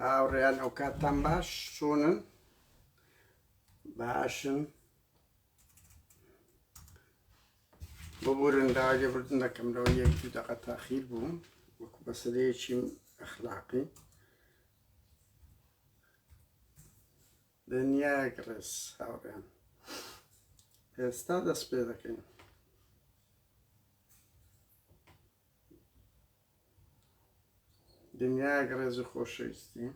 هاوڕێیان ئەو کاتتان باش چۆنن باشن ببورن داوای لێبوردن دەکەم لەوە یەک دوو دەقە تاخیر بووم وەکو بەسەرەیەکی ئەخلاقی دنیایەک ڕێز هاوڕێن ئێستا دەست پێ دەکەین دنیایەک ڕێز و خۆشەویستی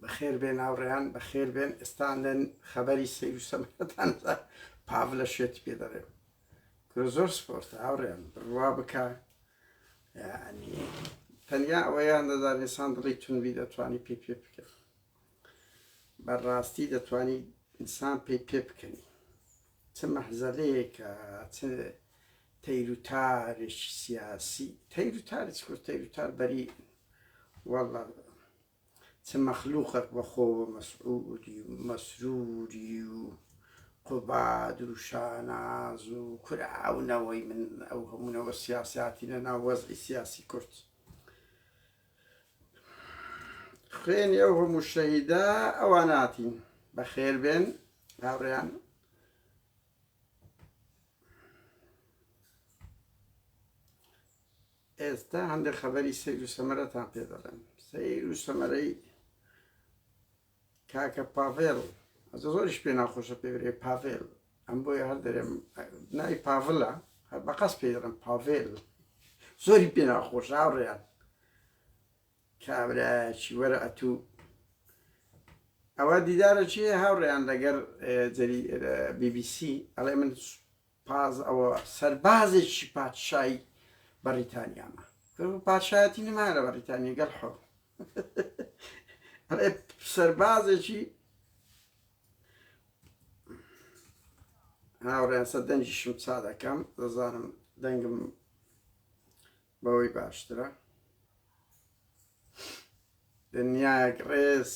بەخێر بێن هاوڕێیان بەخێر بێن ئێستا لەن خەبەری سیر و سەمەتان پاڤ لە شێتی پێ دەڕێ کرۆ زۆر سپۆرتە هاوڕێیان بڕوا بکە یەعنی تەنیا ئەوەیان دەزانێت سان دڵی تونبی دەتوانی پێ پێ بکەن بەڕاستی دەتوانی ئینسان پێی پێ بکەنی چ مەحزەلەیەکە چ تەیروتارێکی سیاسی تەیروتارێک کورد تەیروتار بەری وەڵ چ مەخلوقەک بە خۆوە مەسعودی و مەسروری و قوباد و شاناز و کورە ئەو نەوەی من ئەو هەموو نەوە سیاساتینە ناو وەزعی سیاسی کورد خوێنی ئەو هەموو شەهیدا ئەواناتین بەخێر بێن هاوڕیان ئێستا هەندێک خەبەری سیر و سەمەرەتان پێ دەڵێن سیر و سەمەرەی کاکە پاڤێڵ ئەز زۆریش پێ ناخۆشە پێورێ پاڤێل ئەم بۆیە هەر دەرێم نای پاڤلە هەر بەقەس پێ دەڵێم پاڤێل زۆری پێ ناخۆش هاوڕێیان کابرا چی وەرە ئەتو ئەوە دیدارە چی هاوڕێیان لەگەر جەری بی بی سی ئەڵێ من پاز ئەوە سەربازێکی پادشایی بەڕیتانیامە پادشایەتی نمایە لە بەڕیتانیا گەل حۆ ئەڵێ سەربازێکی هاوڕێیان سەر دەنجیشم چا دەکەم دەزانم دەنگم بەوەی باشترە دنیایەک ڕێز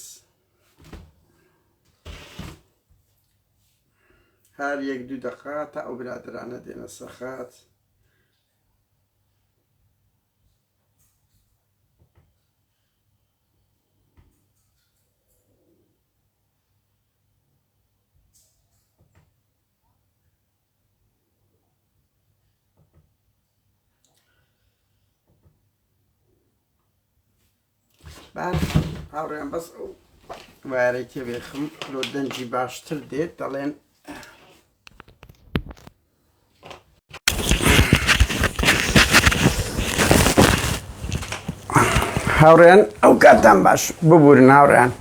هەر یەک دوو دەقا تا ئەو برادرانە دێنە سەرخات هاوڕێن بەس ئەو وارەی تێبێخم لۆ دەنجی باشتر دێت دەڵێن هاوڕێن ئەو کاتان باش ببوورن هاوڕێن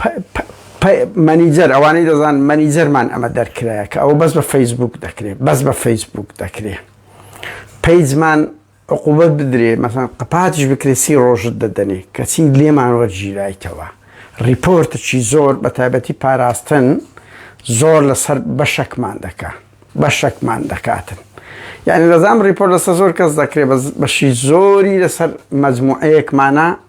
پ پ پ مەنیجەر ئەوانەی دەزان مەنیجەرمان ئەمە دەرکرایە کە ئەوە بەس بە فەیسبوک دەکرێت بەس بە فەیسبوک دەکرێت پیجمان عقوبەت بدرێ مەسان قپاتیش بکرێت سی ڕۆژت دەدەنێ کەچی لێمان وەرگیرایتەوە ڕیپۆرتچی زۆر بە تایبەتی پاراستن زۆر لەسەر بەشەکمان دەکە بەشەکمان دەکاتن یعنی دەزام ڕیپۆرت لەسەر زۆر کەس دەکرێت بەشی زۆری لەسەر مەجموعەیەکمانە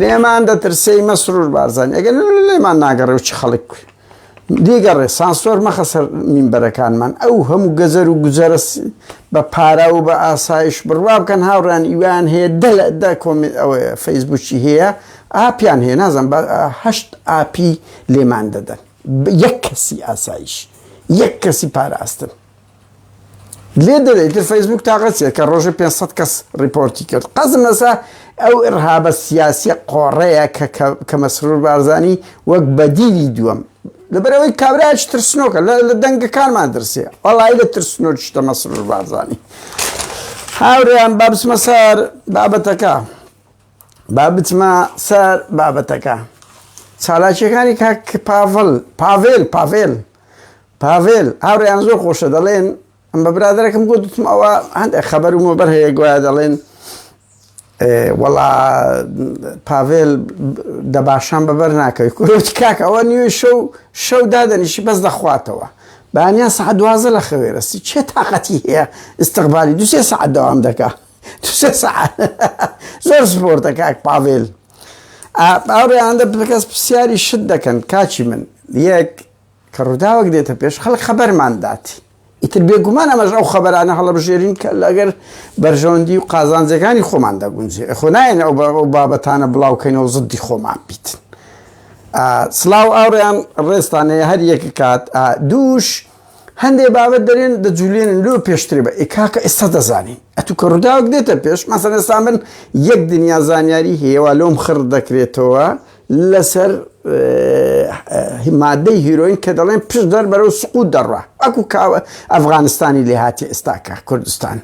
لێمان دەترسێی مەسرور بارزان ئەگەر لێمان ناگەڕێ و چ خەڵک دیگەڕێ سانسۆر مەخە سەر مینبەرەکانمان ئەو هەموو گەزەر و گوزەرس بە پارا و بە ئاسایش بڕوا بکەن هاوڕان ئیوان هەیە دە لە دە کۆمنت ئەوەیە فەیسبوکی هەیە ئاپیان هەیە نازم هەشت ئاپی لێمان دەدەن یەک کەسی ئاسایش یەک کەسی پاراستن لێ دەرێ ئیتر فەیسبووک تاقە چیە کە ڕۆژە 500 کەس ڕیپۆرتی کرد قەزم لەسا ئەو ئرهابە سیاسیە قۆڕەیە کە مەسرور بارزانی وەک بەدیلی دووەم لەبەرەوەی کابراج ترسنۆکە لە دەنگەکانمان درسێ وەڵی لە ترسنۆر شتە مەسرور بارزانی هاوریان با بچمە سەر بابەتەکە با بچمە سەر بابەتەکە چالاکیەکانی کاک پاڤل پاڤێل پاڤێل پاڤێل، هاوڕێیان زۆر خۆشە دەڵێن، من بە برادەرەکەم گوتم ئەوە هەندێک خەبەر و مۆبەر هەیە گوایە دەڵێن وەڵا پاڤێل دەباشان بەبەر ناکەوی کورۆچ کاک ئەوە نیوی شەو شەو دادەنیشی بەس دەخواتەوە بانیان سعات دوازە لە خەوێرەسی چێ تااقەتی هەیە استقبالی دوسێ سعات دەوام دەکا دوسێ سعات زۆر سپۆرتە کاک پاڤێل ئاڕێیاندە بکەس پرسیاری شت دەکەن کاچی من یەک کە ڕووداوێک دێتە پێش خەڵک خەبەرمان دات. ئیتر بێگومان ئەمەش ئەو خەبەرانە هەڵەبژێرین کە لەگەر بەرژەوەندی و قازانجەکانی خۆمان دەگونجێ خۆ نایەن ئەو بابەتانە بڵاوکەینەوە زدی خۆمان بیتن. سلااو ئاڕیان ڕێستانەیە هەر یەکە کات دووش هەندێ بابەت دەرێن دەجولێن لۆ پێشترێ بە ئێکاکە ئێستا دەزانین ئەتو کە ڕووداوک دێتە پێش مەسەرستان بن یەک دنیا زانیاری هێوا لۆم خڕ دەکرێتەوە لەسەر مادەی هیرۆین کە دەڵێن پشت دەر بەرەو سقوت دەڕە ئەکو کاوە ئەفغانستانی لێ هاتی ئێستاکە کوردستان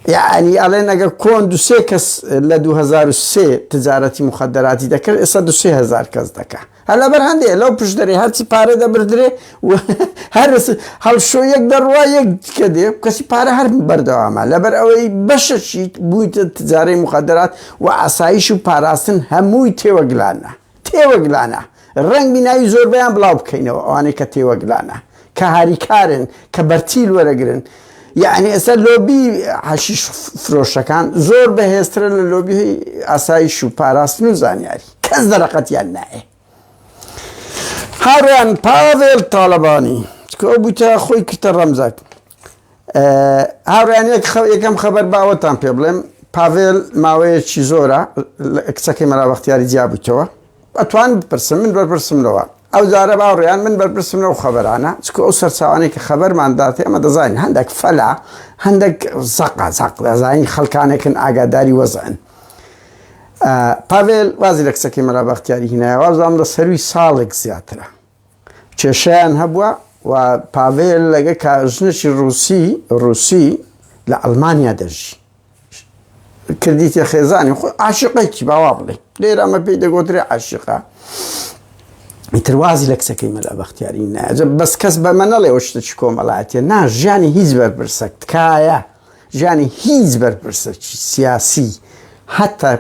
یعنی ئەڵێن ئەگە کۆن دوسێ کەس لە 2023 تجارەتی مخدراتی دەکرد ئێستا دوهزار کەس دەکە هەلا بەر هەندێ لەو پشت دەرێ هەرچی پارە دەبدرێ و هەر هەڵشۆ یەک دەڕوا یەک دیکە دێ کەسی پارە هەر بەردەوامە لەبەر ئەوەی بەشەشی بوویتە تجارەی مخدرات و ئاسایش و پاراستن هەمووی تێوەگلانە تێوەگلانە ڕەنگبی ناوی زۆربەیان بڵاو بکەینەوە ئەوانەی کە تێوەگلانە کە هاریکارن کە بەرتیل وەرەگرن یعنی ئێستا لۆبی حەشیش فرۆشەکان زۆر بەهێزترە لە لۆبی ئاسایش و پاراستن و زانیاری کەس دەرەقەتیان نایە هاوڕێیان پاڤێل تاڵەبانی چکە ئەو بوتە خۆی کردە ڕەمزەک هاوڕێیان یەک خەو یەکەم خەبەر باوەتان پێ بڵێم پاڤێل ماوەیەکی زۆرە کچەکەی مەلا بەختیاری جیابووتەوە ئەتوان بپرسم من بەرپرسم لەوە ئەو جارە باوڕیان من بەرپرسم لەو خەبەرانە چکە ئەو سەرچوانێک کە خەبەرمانداتێ ئەمە دەزانین هەندێک فەلا هەندێک زەقا زەق دەزانین خەلکانێکن ئاگاداری وەزن پاڤێل وازی لە کچەکەی مەلا بەختیاری هینایە وازام لە سەروی ساڵێک زیاترە کێشیان هەبووە و پاڤێل لەگە کاژنەی ڕوسی ڕوسی لە ئەلمانیا دەژی کردیتە خێزانی خۆ عاشقێکی باوا بڵێ لێرە ئەمە پێی دەگۆترێ عاشقا تروازی لە کچەکەی مەلا بەختیاری ناجە بەس کەس بە منەڵێ شتە چ کۆمەڵاتێ نا ژیانی هیچ بەرپرسە تکایە ژانی هیچ بەرپرسەکی سیاسی هەتا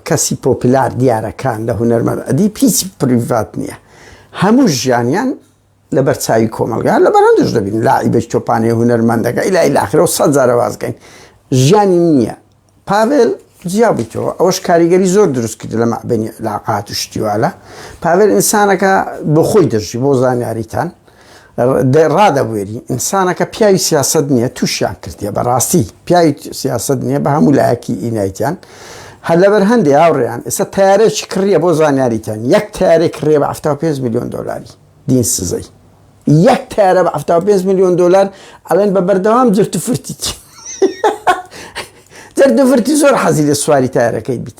کەسی پۆپلار دیارەکان لە هونەرمەند ئەدیب هیچ پریڤات نییە هەموو ژیانیان لە بەرچوی کۆمەلگا لە بەرندش دەبین لاعیبش تۆپانێ هونەرمەندەکە ئیلای لاخرە و سەد جارە وازگەین ژیانی نییە پاڤێل جیابیتەوە ئەوەش کاریگەری زۆر دروست کرد لە مەعبنی لاقات و شتیوالە پاڤێل ئینسانەکە بۆ خۆی دەژی بۆ زانیاریتان ڕادەبوێری ئینسانەکە پیاوی سیاست نییە تووشیان کردیە بەڕاستی پیاوی سیاست نییە بە هەموو لایەکی ئینایتیان هەر لەبەر هەندێ هاوڕێیان ئێستا تارێکی کڕیە بۆ زانیاریتان یەک تارێک کڕێ بە 5 میلیۆن دلاری دین سزەی یەک تارە بە 5 میلیۆن دلار ئەڵێن بە بەردەوام جرت فرتی جرد فرتی زۆر حەزی لە سواری تارەکەی بیت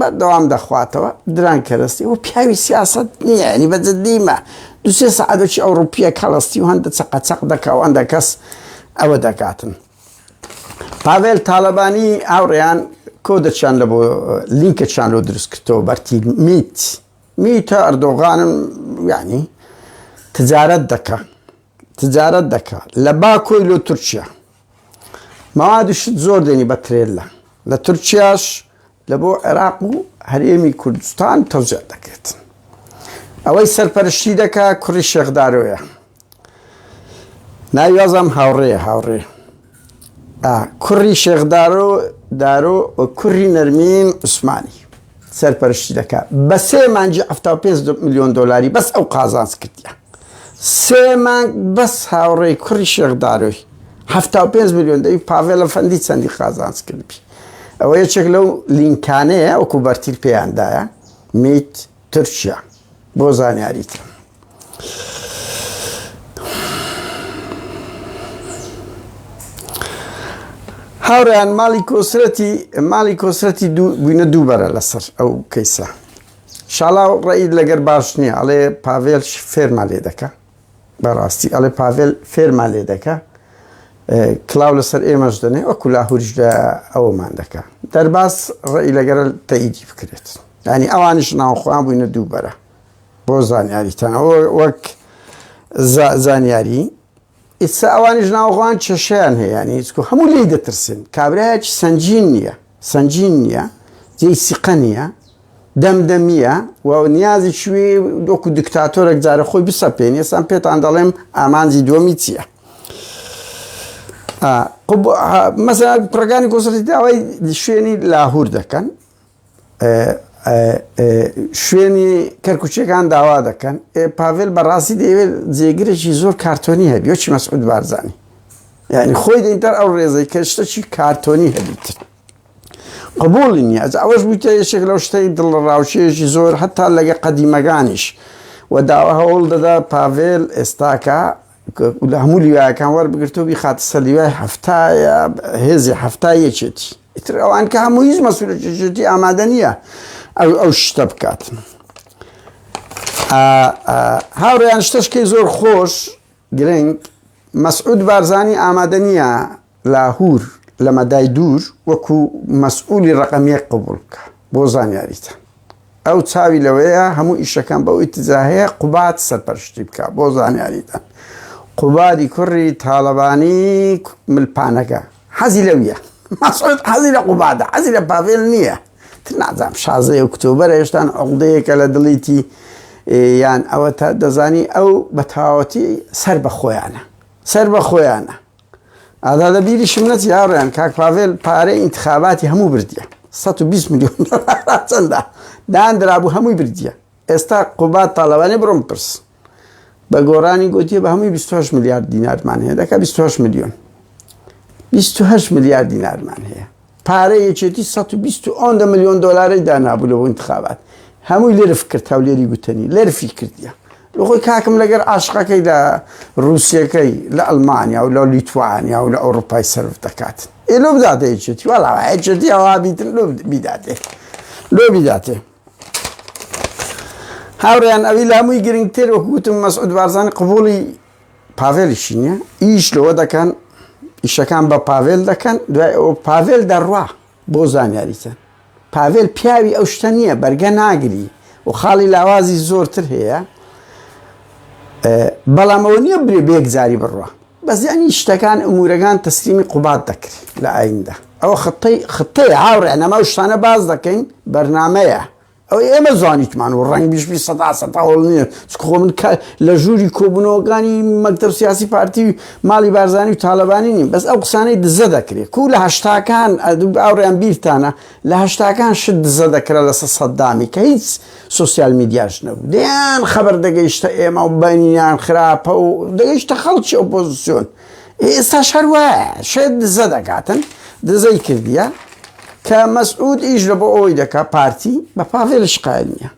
بەردەوام دەخواتەوە دران کەرەستی و پیاوی سیاسەت نییە ینی بە جدیمە دو سێ سەعادەکی ئەوڕوپیە کەڵەستی و هەندە چەقەچەق دەکا و هەندە کەس ئەوە دەکاتن پاڤێل تاالبانی هاوڕێیان کۆدەچیان لە بۆ لینکەچیان لۆ دروست کردەوە بەرتی میت میتە ئەردۆغانم یعنی تجارەت دەکە تجارەت دەکە لە باکۆی لۆ تورکیا مواد و شت زۆر دێنی بە ترێلا لە تورکیاش لە بۆ عێراق و هەرێمی کوردستان تەوزێ دەکرێت ئەوەی سەرپەرشتی دەکا کوڕی شێخدارۆیە ناویازام هاوڕێ هاوڕێ کوڕی شێخدارۆ دارۆ کوڕی نەرمین عوسمانی سەرپەرشتی دەکا بە سێ مانجی حەفتا و پێنج ملیۆن دۆلاری بەس ئەو قازانج کردیە سێ مانگ بەس هاوڕێی کوڕی شێخدارۆی حەفتا و پێنج ملیۆن دەوی پاڤێلە فەندی چەندی قازانج کردبی ئەوە یەکێک لەو لینکانەیە وەکو بەرتیل پێیاندایە میت تورکیا بۆ زانیاریتە هاوڕیان ماڵی کۆسرەتی ماڵی کۆسرەتی بووینە دوو بەرە لەسەر ئەو کەیسە شاڵا و ڕێید لەگەر باش نییە ئەڵێ پاڤێل فێرما لێ دەکە بەڕاستی ئەڵێ پاڤێل فێرما لێ دەکە کلااو لەسەر ئێمەش دەنێ وەکو لاهوریش لە ئەومان دەکە دەرباز ڕێی لەگەرە تەیدی بکرێت ینی ئەوانش ناوخۆیان بووینە دوو بەرە بۆ زانیاریتان ئەوە وەک زانیاری ئیسا ئەوانیش ناوەخۆیان کێشیان هەیە ینی هیچکو هەموو لی دەترسن کابراایەکی سنجین نییە سنجین نییە جێی سیقە نییە دەمدەمیە و نیازی شوێ دۆکو دکتاتۆرەك جارە خۆی بسە پێێن ئێسان پێتان دەڵێم ئامانجی دووەمی چییە؟ مەسە پڕگانی گۆسەری داوای شوێنی لاهور دەکەن شوێنی کەرکوچیەکان داوا دەکەن پاڤل بەڕاستی دەیەوێت جێگرێکی زۆر کارتۆنی هەبی وەچی مەسعود بارزانانی یعنی خۆی دەیتەر ئەو ڕێزەی کە شتەکی کارتۆنی هەبیت قبولی نیە ئەز ئەوەش بوویتە یەکێک لەو شتەی دڵڕاوچێژی زۆر هەتا لەگە قەدیمەکانیش و داوە هەوڵ دەدا پاڤێل ئێستاکە لە هەموو لیواەکان وەربگرتو بی خاتە سەلیوای هەفتایە هێزی هەفتایەکێتی ئیتر ئەوان کە هەموو هیچ مەسولەتی ئامادە نییە ئەو ئەو شتە بکات هاوڕێیان شتەشکەی زۆر خۆش گرنگ مەسعود بارزانانی ئامادە نییە لاهور لە مەدای دوور وەکو مەسئولی ڕقەمیە قبول بکە بۆ زانیاریتە ئەو چاوی لەوەیە هەموو ئیشەکان بەو ئیتزاهەیە قوبات سەرپەرشتی بکە بۆ زانیاریتە قوبادی کوڕی تاالبانی ملپانەکە حەزی لەویە مەسعود حەزی لە قوبادە حەزی لە پاڤێل نییە تر نازانم شازەیە و کتێبەرە هێشتان عقدەیەکە لە دڵیتی یان ئەوە تا دەزانی ئەو بە تەواوەتی سەر بە خۆیانە سەر بە خۆیانە ئادا لە بیری شمنەت یاڕیان کاک پاڤێل پارەی ئینتخاباتی هەموو بردیە 120 میلیۆن چەندە داندرابوو هەمووی بردیە ئێستا قوبات تاالەوانی بڕم پرس بە گۆرانی گوتی بە هەمووی 28 میلیارد دینارمان هەیە دەکە 28 میلیۆن 28 میلیارد دینارمان هەیە پارە یەکێتی 120 ئۆندە میلیۆن دلاری دانابوو لەەوە انتخابات هەمووی لرف کرد هەولێری گوتنی لەرفی کردیە خۆی کاکم لەگەر عاشقەکەی لە رووسەکەی لە ئەلمانیا و لە لیتوانیا و لە ئەوروپای سرف دەکات ئێ لۆ بداتێکێتی وڵاوایەکێتی ئەوابیتن لۆ بیداتێ لۆ بیداتێ هاوڕێیان ئەوی لامووی گرنگتر وەکو گوتم مەسعود بارزانی قبوڵی پاڤێلیشی نییە ئیش لەوە دەکەن ئیشەکان بە پاڤێل دەکەن دوای ئەو پاڤێل دەڕوا بۆ زانیاریتە پاڤێل پیاوی ئەو شتە نییە بەرگە ناگری و خاڵی لاوازی زۆرتر هەیە بەڵام ئەوە نییە برێ بێک جاری بڕە بەس یەعنی شتەکان ئمورەکان تەسلیمی قوباد دەکرێ لە ئایندە ئەوە خطەی خطەیە هاو ڕێنەما و شتانە باس دەکەین بەرنامەیە ئەو ئێمە زانیتمان و ڕەنگ بیش بی سەدا سەدا هەوڵ نیە چکە خۆ من کە لە ژووری کۆبوونەوەکانی مەکتەب سیاسی پارتی و ماڵی بارزانی و تالەبانی نیم بەس ئەو قسانەی دزە دەکرێت کو لە هەشتاکان ئەدوب ئاوڕیان بیرتانە لە هەشتاکان شت دزە دەکرا لەسەر سەددامی کە هیچ سۆسیال میدیاش نەبوو دەیان خەبەر دەگەیشتە ئێمە و بەنیان خراپە و دەگەیشتە خەڵکی ئۆپۆزیسیۆن ئێستا شەر وایە شێت دزە دەکاتن دزەی کردیە کە مەسعود ئیش لە بۆ ئەوەی دەکا پارتی بە پاڤێل شقای نییە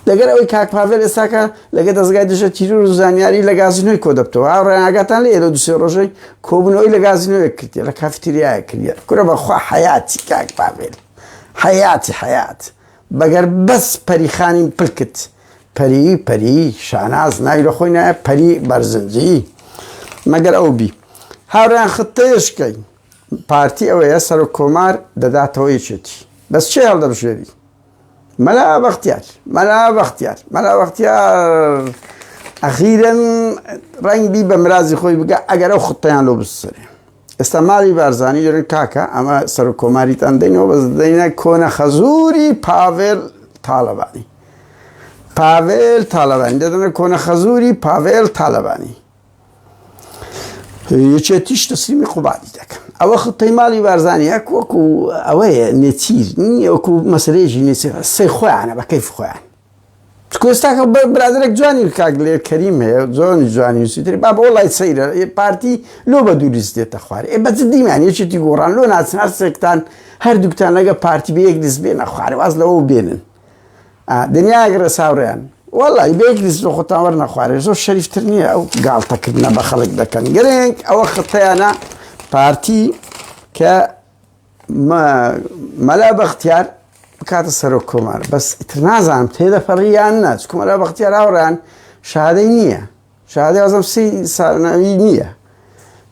لەگەر ئەوەی کاک پاڤێل ئێستاکە لەگە دەستگای دژە تیرور و زانیاری لە گازینۆی کۆ دەبتەوە ئاو ڕێناگاتان لە ئێرە دوسێ ڕۆژەی کۆبنەوەی لە گازینۆیە کردی لە کافتریایە کردە کورە بەخوا حیاتی کاک پاڤێل حیاتی حیات بەگەر بەس پەری خانیم پلکت پەری پەری شاناز ناوی لە خۆی نایە پەری بەرزنجی مەگەر ئەو بی هاوریان خطەیشکەی پارتی ئەوەیە سەر و کۆمار دەداتەوە یەکێتی بەس چێ هەڵدەبژێری مەلا بەختیار مەلا بەختیار مەلا بەختیار ئەخیرن ڕەنگبی بە مرازی خۆی بگە ئەگەر ئەو خطەیان لۆ بسرێ ئێستا مالی بارزانی دەێن کاکە ئەمە سەرۆک کۆماریتان دەینەوە بەس دەینە کۆنە خەزووری پاڤێل تاالبانی پاڤێل تاالبانی دەدەنە کۆنە خەزووری پاڤێل تاالبانی یەکێتیش تەسلیمی قوبادی دەکەن ئەوە خپەی ماڵی بارزانانی یەک وەکو ئەوەیە نێچیر نیە وەکو مەسرێژی نێچیر سەی خۆیانە بەکەیف خۆیان کوێستاکە برادێک جوانی کاک لێ کەریم هەیە زۆنی جوانی وسیتری با بۆ لای سەیرە پارتی لۆ بە دووریست دێتە خوارد ئێ بە جدیمان یەکێتی گۆڕان لۆ ناچن هەر سێکتان هەردووکتان لەگە پارتی بە یەک دەست بێنە خوارد واز لەوە بێنن دنیاگرە ساوریان وڵی بێک دەست لە خۆتان وەرنە خوارێ زۆر شەریفتر نییە ئەو گاڵتەکردە بە خەڵک دەکەن گرنگ ئەوە خەتیانە پارتی کە مەلا بەختیار بکاتە سەرۆک کۆمار بەس ئیتر نازانم تێدەپەڕیان نا چکە مەلا بەختیار هاوڕان شادەی نییە شادی ئازم سی ساڵناوی نییە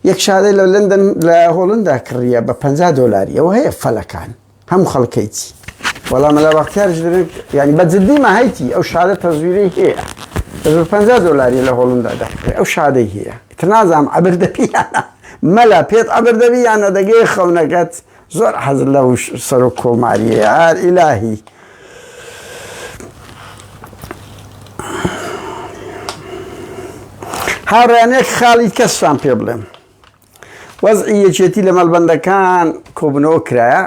یەک شادەی لە لندن لە هۆڵندا کڕیە بە 50 دلاری ئەوە هەیە فەلەکان هەم خەڵکەیتی وەڵام لە بەختیارش ینی بە جددی ماهیتی ئەو شادە تەزویری هەیە دەزور 50 دلاری لە هۆڵندا دەکرێت ئەو شادەی هەیە تر نازانم عبر دەپیانە مەلا پێت عەبر دەبی یان نەدەگێ خەونەکەت زۆر حەزت لە وش سەرۆک کۆماریە ئار ئیلاهی. هاوڕێیان یەک خاڵی کەستان پێ بڵێم وەزعی یەکێتی لە مەڵبەندەکان کۆبنەوە کرایە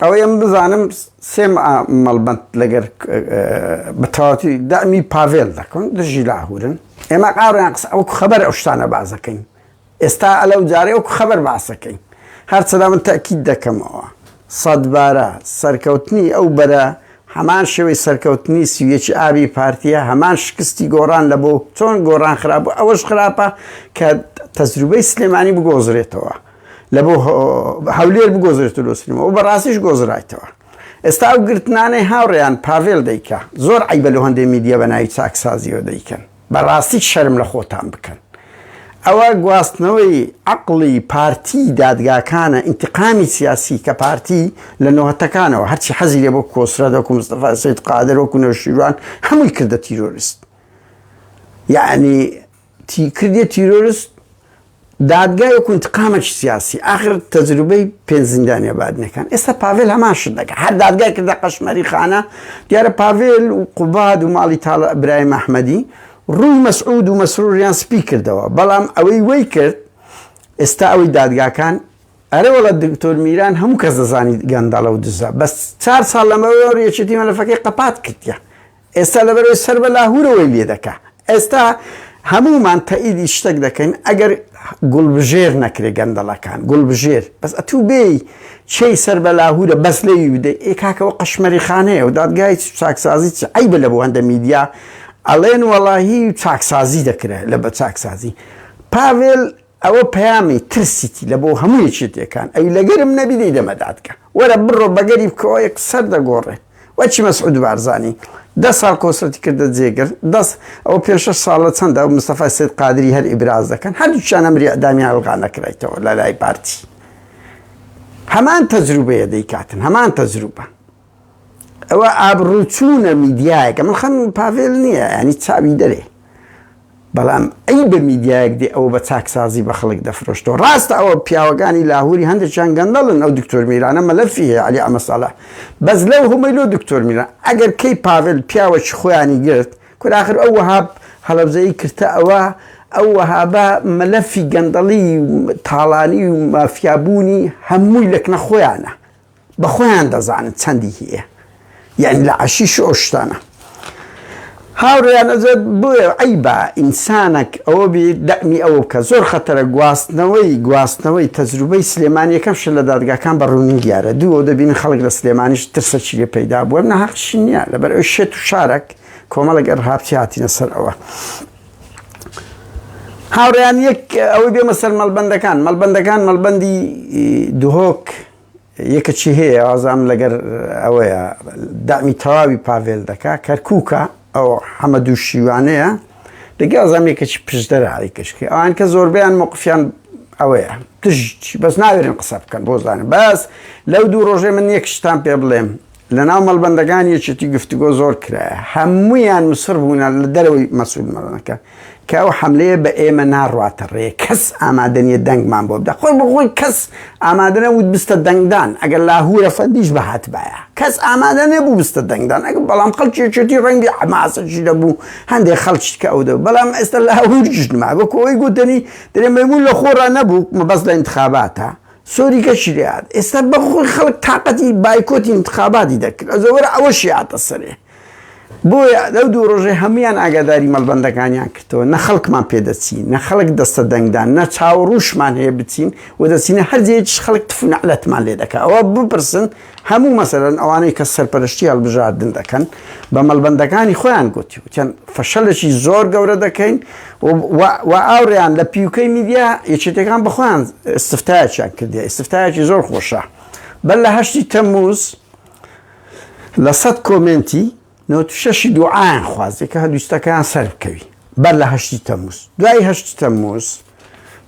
ئەوەی ئەمن بزانم سێ مآ مەڵبەند لەگەر بە تەواوەتی دەعمی پاڤێل دەکەن دژی لاهورن ئێمە قاڕیان قسە ئەو خەبەر ئەو شتانە بازەکەین ئێستا ئەلە و جارێ ئەو خەبەر باسەکەین هەرچەدا من تاکیید دەکەمەوە سەدبارە سەرکەوتنی ئەو بەرە هەمان شێوەی سەرکەوتنی سویەکی ئابی پارتیە هەمان شکستی گۆڕان لە بۆ چۆن گۆڕان خراپ ئەوەش خراپە کە تەجروبەی سلێمانی بگۆزرێتەوە لە بۆ هەولێر بگۆزرێت لۆ سنەوە بە ڕاستیش گۆزرایتەوە ئێستا و گرتنانەی هاوڕێیان پاڤێل دەیکە زۆر عیبە لە هەندێ میدیە بە ناوی چاکسازیەوە دەیکەن بەڕاستی شەرم لە خۆتان بکەن ئەوە گواستنەوەی عقلی پارتی دادگاکانە ئینتقامی سیاسی کە پارتی لە نۆهتەکانەوە هەرچی حەزی لێ بۆ کۆسرە دەکو مستەفا سید قادر وەکو نەوشیروان هەمووی کردە تیرۆریست یعنی تی کردیە تیرۆرست دادگای وەکو انتقامەکی سیاسی ئاخر تەجروبەی پێنج زیندانیە بادینەکان ئێستا پاڤێل هەمان شت دەکا هەر دادگای کردە قەشمەری خانە دیارە پاڤێل و قوباد و ماڵی تاڵە ئەبراهیم ئەحمەدی ڕووی مەسعود و مەسروریان سپی کردەوە بەڵام ئەوەی وەی کرد ئێستا ئەوەی دادگاکان ئەرە وڵە دکتۆر میران هەموو کەس دەزانی گەندەڵە و دزە بەس چار ساڵ لەمەوەڕ یەکێتی مەلەفەکەی قەپات کردە ئێستا لەبەرەوەی سەر بە لاهورەوەی لێ دەکا ئێستا هەموومان تەئیدی شتەک دەکەین ئەگەر گوڵبژێر نەکرێ گەندەڵەکان گوڵبژێر بەس ئەتوو بێی چی سەر بە لاهورە بەس لەوی بدەی ئێ کاکەەوە قەشمەری خانەیە و دادگای چاکسازی چ ئەی بە لە بۆ هەندە میدیا ئەڵێن وەڵاهی چاکسازی دەکرێت لە بە چاکسازی پاڤێل ئەوە پەیامی ترسیتی لە بۆ هەموو یەکێتیەکان ئەوی لەگەرم نەبی دەیدەمە دادگا وەرە بڕۆ بەگەری بکەوە یەک سەر دەگۆڕێ وەچی مەسعود بارزانی دە ساڵ کۆسرەتی کردە جێگر دەست ئەو پێ شەش ساڵە چەندە و مستەفای سید قادری هەر ئیبراز دەکەن هەردووچیان ئەمری ئەدامی هەڵغا نەکرایتەوە لە لای پارتی هەمان تەجروبەیە دەیکاتن هەمان تەجروبە ئەوە ئابڕوو چوونە میدیایەکە من خەم پاڤێل نییە ینی چاوی دەرێ بەڵام ئەی بە میدیایەک دێ ئەوە بە چاکسازی بە خەڵک دەفرۆشتەوە ڕاستە ئەوە پیاوەکانی لاهوری هەندێکیان گەندەڵن ئەو دکتۆر میرانە مەلەفی هەیە علی ئەمەساڵە بەس لەو هەمەی لۆ دکتۆر میران ئەگەر کەی پاڤێل پیاوەکی خۆیانی گرت کوراخر ئەو وەهاب هەڵەبزەی کردە ئەوە ئەو وەهابە مەلەفی گەندەڵی تاڵانی و مافیابوونی هەمووی لەکنە خۆیانە بە خۆیان دەزانن چەندی هەیە یعنی لە عەشیش ئەو شتانە هاوڕێیان ئەزێت بۆیە عیبا ئینسانەک ئەوە بێ دەمی ئەوە بکە زۆر خەتەرە گواستنەوەی گواستنەوەی تەجروبەی سلێمانیەکەم شە لە دادگاکان بە ڕوونی دیارە دوو دەبین خەڵک لە سلێمانیش ترسەکی لێ پەیدا بووە نەهاقشی نییە لەبەر ئەو شێت و شارەک کۆمەڵک ئەرهاپتی هاتینە سەر ئەوە. هاوڕیان یەک ئەوەی بێمە سەر مەلبندەکان مەلبندەکان مەلبندی دهۆک یەکەچی هەیە وازام لەگەر ئەوەیە دامی تەواوی پاڤێل دەکا کەرکووکە ئەو حەمە دوو شیوانەیە دەگە ئازام یەکەچی پشدەرە ئەی کەشکی ئەوان کە زۆربیان مۆقفیان ئەوەیە تژ بەس ناوێرن قسە بکەن بۆ زانن بەس لەو دوو ڕۆژێ من یەک شتان پێ بڵێم لەناو مەڵبەندەکان یەکێتی گفتوگۆ زۆر کرایە هەمویان مسر بوونە لە دەرەوەی مەسول مەڵەکە کە ئەو حملەیە بە ئێمە ناڕاتە ڕێ کەس ئامادەنیە دەنگمان بۆ بدە خۆی بخۆی کەس ئامادەە وت بستە دەنگدان ئەگەر لاهورە فەندیش بەهات باە کەس ئامادە نەبوو بستە دەنگدان ئەگە بەڵام خەڵکیێتی ڕەنگی حماسەشی دەبوو هەندێک خەڵکی کە ئەو دە بەڵام ئێستا لاهورژنما بە کۆی گوتنی درێمەبوو لە خۆڕا نەبوو مەبەست لە انتخاباتە سۆری گەشی لێهات ئێستا بەخۆی خەڵک تاقەتی بایکۆتی انتخاباتی دەکرد ئەزەوەرە ئەوەشی هاتە سەرێ بۆیە لەو دوو ڕۆژێ هەمویان ئاگاداری مەڵبەندەکانیان کردەوە نە خەڵکمان پێدەچین نە خەڵک دەستە دەنگدان نە چاوەڕوشمان هەیە بچین و دەچینە هەرجێکیش خەڵک تفنەعلەتمان لێ دەکا ئەوە بپرسن هەموو مەسەلەن ئەوانەی کە سەرپەرشتی هەڵبژاردن دەکەن بە مەڵبەندەکانی خۆیان گوتی وتیان فەشەلێکی زۆر گەورە دەکەین و ئاوڕیان لە پیوکەی میدیا یەکێتەکان بەخۆیان استفتایەکیان کردی استفتایەکی زۆر خۆشە بەر لە هەشتی تەموز لە سەد کۆمێنتی نۆت شەشی دوعایان خوازێ کە هەلویستەکەیان سەر بکەوی بەر لە هەشتی تەموز دوای هەشتی تەموز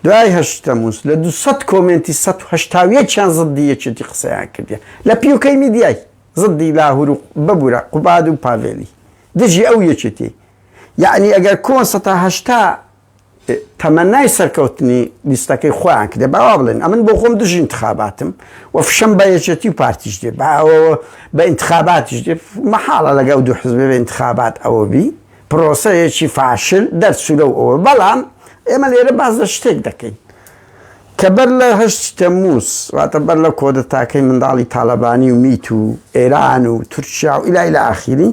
دوای هەشتی تەموز لە دو سەد کۆمێنتی سە هەشتاویەکیان زدی یەکێتی قسەیان کردیە لە پیوکەی میدیای زدی لاهور و ببورە قوباد و پاڤێلی دژی ئەو یەکێتی یعنی ئەگەر کۆن سەتا هەشتا تەمەنای سەرکەوتنی لیستەکەی خۆیان کرێ باوا بڵێن ئەمن بۆ خۆم دژی انتخاباتم و فشەم بە یەکێتی و پارتیش دێ باوەوە بە انتخاباتیش دێ مەحاڵە لەگەڵ دوو حزبێ بە انتخابات ئەوە بی پرۆسەیەکی فاشل دەرچوو لەو ئەوە بەڵام ئێمە لێرە باز لە شتێک دەکەین کە بەر لە هەشتی تەمووز واتە بەر لە کۆدەتاکەی منداڵی تاالبانی و میت و ئێران و تورکیا و ئیلای لە ئاخیری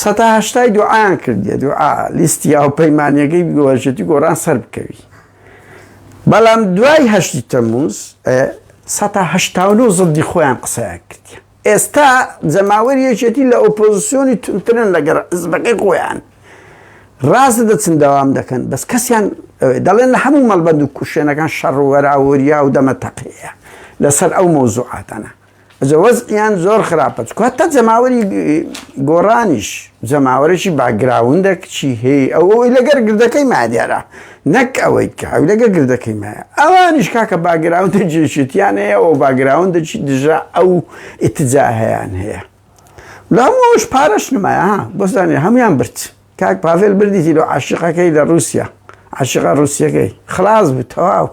سەتا هەشتای دوعایان کردیە دوعا لیستی یا و پەیمانەکەی گۆژێتی گۆران سەر بکەوی بەڵام دوای هەشتی تەمووز سەتا هەشتا و نۆ زڵدی خۆیان قسەیان کردیە ئێستا جەماوەری یەکێتی لە ئۆپۆزسیۆنی توندترن لەگەر حزبەکەی خۆیان ڕاست دەچن داوام دەکەن بەس کەسیان دەڵێن لە هەموو مەڵبەند و کوشێنەکان شەڕ و وەراوەریا و دەمە تەقەیە لەسەر ئەو مۆزوعاتەنە ئەجە وەزیان زۆر خراپە چکات تا جەماوەری گۆڕانیش جەماوەرەی باگراوندە کچی هەیە ئەو لەگەر گردەکەی مادیارە نەک ئەوەی کە حەولەگە گردەکەی مایە ئەوانیش کاکە باگراوندە جێشتیان هەیە ئەو باگراوندەچی دژە ئەو ئتجاهیان هەیە لەمەوەش پارەش نمایە بۆزانێ هەمویان برد کاک پاڤێل بردیتی لە عاشقەکەی لە رووسیا عاشقا رووسەکەی خلاص بوو تەواو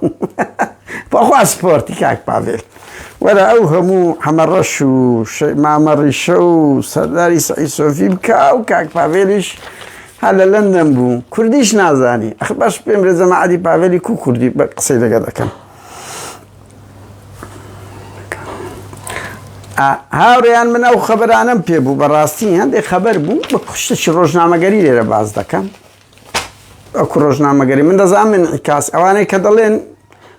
بەخوا سپۆرتی کاک پاڤێل وەرە ئەو هەموو حەمەڕەش و مامەڕیشە و سەرداری سعی سۆفی بکە و کاک پاڤێلیش ها لە لەندەن بوو کوردیش نازانی ئەخ باش پێم رێزە مەعادی پاڤێلی کو کوردی بە قسەی لەگەڵ دەکەم هاوڕێیان من ئەو خەبەرانم پێ بوو بەڕاستی هەندێک خەبەر بوو بە کوشتەی ڕۆژنامەگەری لێرە باز دەکەم ئەو ڕۆژنامەگەری من دەزان من ئیکاس ئەوانەی کە دەڵێن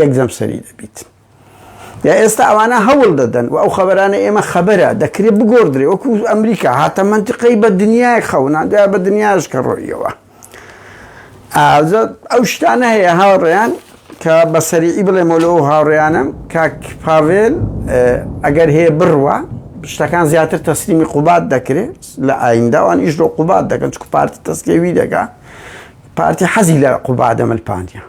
یەک دەم سەری دەبیت یا ئێستا ئەوانە هەوڵ دەدەن و ئەو خەبەرانە ئێمە خەبەرە دەکرێت بگۆدرێ وەکو ئەمریکا هاتە منتیقەی بە دنیای خەونان دوای بە دنیاش کە ڕۆیەوە ئەو شتانە هەیە هاوڕێیان کە بە سەریعی بڵێمە لەو هاوڕێیانم کاک پاڤێل ئەگەر هەیە بڕوە شتەکان زیاتر تەسلیمی قوبات دەکرێت لە ئاینداوان ئیش لۆ قوبات دەکەن چکو پارتی تەسکەوی دەکە پارتی حەزی لە قوبادەمەل پاندیان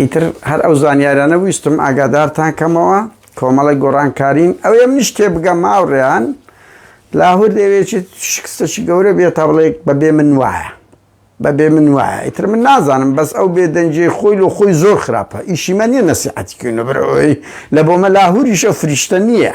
ئیتر هەر ئەو زانیارانە ویستم ئاگادارتان کەمەوە کۆمەڵی گۆڕانکارین ئەو یەم نیش تێ بگەم ماوڕێیان لاهور دەوێچێت شکستەشی گەورە بێت تا بڵێک بەبێ من وایە بەبێ من وایە ئیتر من نازانم بەس ئەو بێدەنجێ خۆی لە خۆی زۆر خراپە ئیشیمە نیە نەسیحەتیکردنە برەوەی لە بۆمە لاهوریشە فریشتە نییە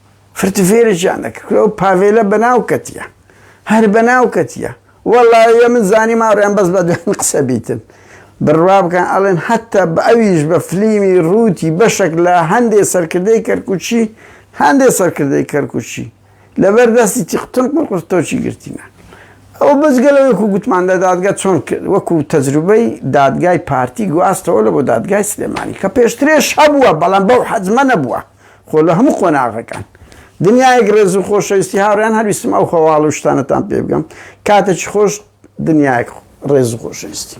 فرتفێرێکیان دەکرد ئەو پاڤێلە بەناو کەتیە هەر بەناو کەتیە وەڵایە من زانی ماڕیان بەس بە دوێن قسە بیتن بڕوا بکەن ئەڵێن حتا بە ئەویش بە فلیمی ڕووتی بەشێک لە هەندێ سەرکردەی کەرکوچی هەندێ سەرکردەی کەرکوچی لەبەر دەستی تیقتن قڕقرتۆچی گرتینە ئەو بەزگە لە وەکو گوتمان لە دادگە چۆن کرد وەکو تەجروبەی دادگای پارتی گواستەوە لە بۆ دادگای سلێمانی کە پێشترێش هەبووە بەڵام بەو حەزمە نەبووە خۆ لە هەموو قۆناغەکان دنیایەک ڕێز و خۆشەویستی هاوڕیان هەرویستم ئەو خەواڵ و شتانەتان پێ بگەم کاتێکی خۆش دنیایەک ڕێز و خۆشەویستی